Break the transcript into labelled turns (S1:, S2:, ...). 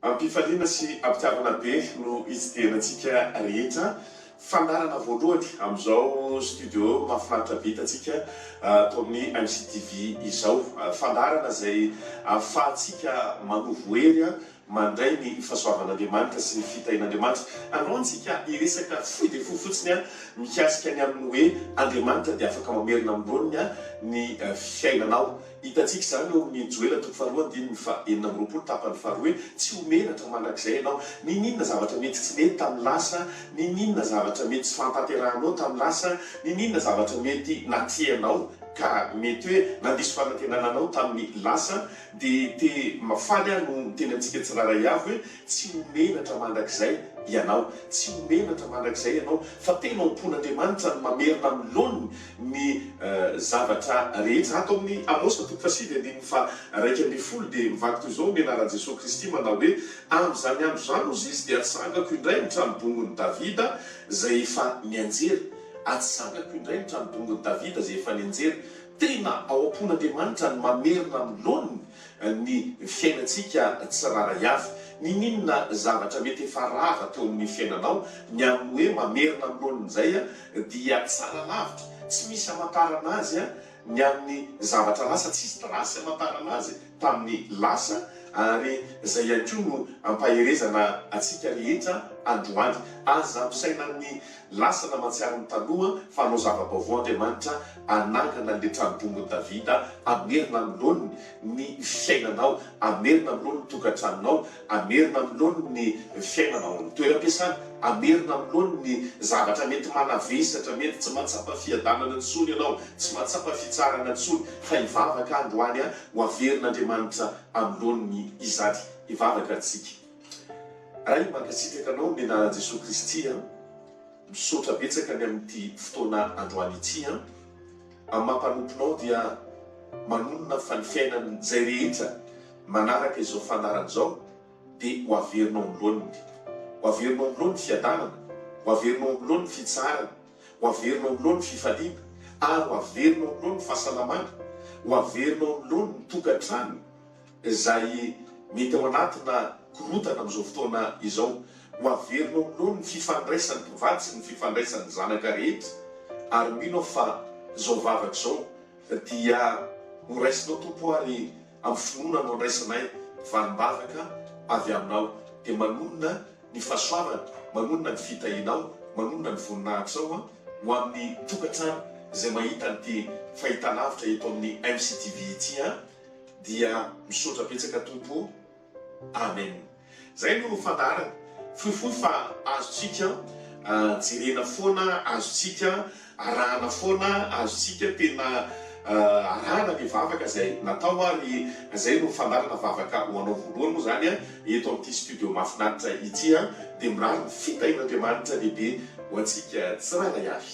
S1: Am-pifaliana sy am-pitiavana be no itsidihanatsika rehetra fandaharana voalohany amin'izao studio mahafinaritra be hitantsika ato amin'ny MCTV izao. Fandaharana izay ahafahantsika manovo hery mandray ny fahasoavan'Andriamanitra sy ny fitahian'Andriamanitra. Anao ntsika hiresaka fohy dia fohy fotsiny an, mikasika ny amin'ny hoe Andriamanitra dia afaka mamerina amin'ny laoniny an ny fiainanao. Hitantsika izany eo amin'ny Joela toko faharoa andininy faha enina amby roapolo tapany faharoa hoe tsy ho menatra mandrakizay ianao. Niniana zavatra mety tsy nety tamin'ny lasa, niniana zavatra mety tsy fahatanterahanao tamin'ny lasa, niniana zavatra mety natrehanao ka mety hoe nandiso fanantenana anao tamin'ny lasa, DT, Faly aho no miteny antsika tsirairay avy hoe tsy ho menatra mandrakizay ianao. Tsy ho menatra mandrakizay ianao fa tena ho mpon'Andriamanitra no mamerina amin'ny laoniny ny zavatra rehetra. Ato amin'ny Amosa toko fahasivy andininy faharaika ambin'ny folo dia mivaky toy izao ny anaran'i Jesoa Kristy manao hoe, Amin'izany andro izany hozy izy dia atsangako indray ny tranobongon'i Davida izay efa nianjera. Atsangako indray ny tranobongon'i Davida izay efa nianjera. Tena ao am-pon'Andriamanitra ny mamerina amin'ny laoniny ny fiainantsika tsirairay avy. Niniana zavatra mety efa rava teo amin'ny fiainanao, ny amin'ny hoe mamerina amin'ny laoniny izay dia tsara lavitra, tsy misy hamantarana azy ny amin'ny zavatra lasa, tsisy trace hamantarana azy tamin'ny lasa, ary izay ihany koa no ampaherezana antsika rehetra androany. Aza ampisaina ny Lasana mahatsiaro ny taloha fa hanao zava-baovao Andriamanitra, hanangana an'ilay trano-bongon'i Davida, hamerina amin'ny laoniny ny fiainanao, hamerina amin'ny laoniny ny tokantranonao, hamerina amin'ny laoniny ny fiainana ao amin'ny toeram-piasana, hamerina amin'ny laoniny ny zavatra mety manavesatra, mety tsy mahatsapa fiadanana intsony ianao, tsy mahatsapa fitsaharana intsony, fa hivavaka androany ho averin'Andriamanitra amin'ny laoniny izany. Hivavaka isika. Ray mankasitraka anao ny anaran'i Jesoa Kristy a! Misaotra betsaka ny amin'ity fotoana androany ity a! Amin'ny maha mpanomponao dia manonona fa ny fiainan'izay rehetra manaraka izao fandaharana izao dia ho averina ao amin'ny loaniny. Ho averina ao amin'ny loany ny fiadanana, ho averina ao amin'ny loany ny fitsaharana, ho averina ao amin'ny loany ny fifaliana ary ho averina ao amin'ny loany ny fahasalamana, ho averina ao amin'ny loany ny tokantrano, izay mety ao anatina korontana amin'izao fotoana izao. Ho averina ao aminao ny fifandraisan'ny mpivady sy ny fifandraisan'ny zanaka rehetra, ary mino aho fa izao vavaka izao dia ho raisinao, Tompo ô, ary amin'ny finoana no andraisanay valim-bavaka avy Aminao, dia manonona ny fahasoavana, manonona ny fitahianao, manonona ny voninahitrao ho amin'ny tokantrano izay mahita an'ity fahitalavitra eto amin'ny MCTV ity. dia misaotra betsaka Tompo o! Amen! Zay no fandaharana, fohifohy fa azontsika jerena foana, azontsika arahana foana, azontsika tena arahana ny vavaka zay natao ary zay no fandaharana vavaka ho anao voalohany moa zany eto amin'ity studio mahafinaritra ity dia mirary ny fitahian'Andriamanitra lehibe ho antsika tsirairay avy.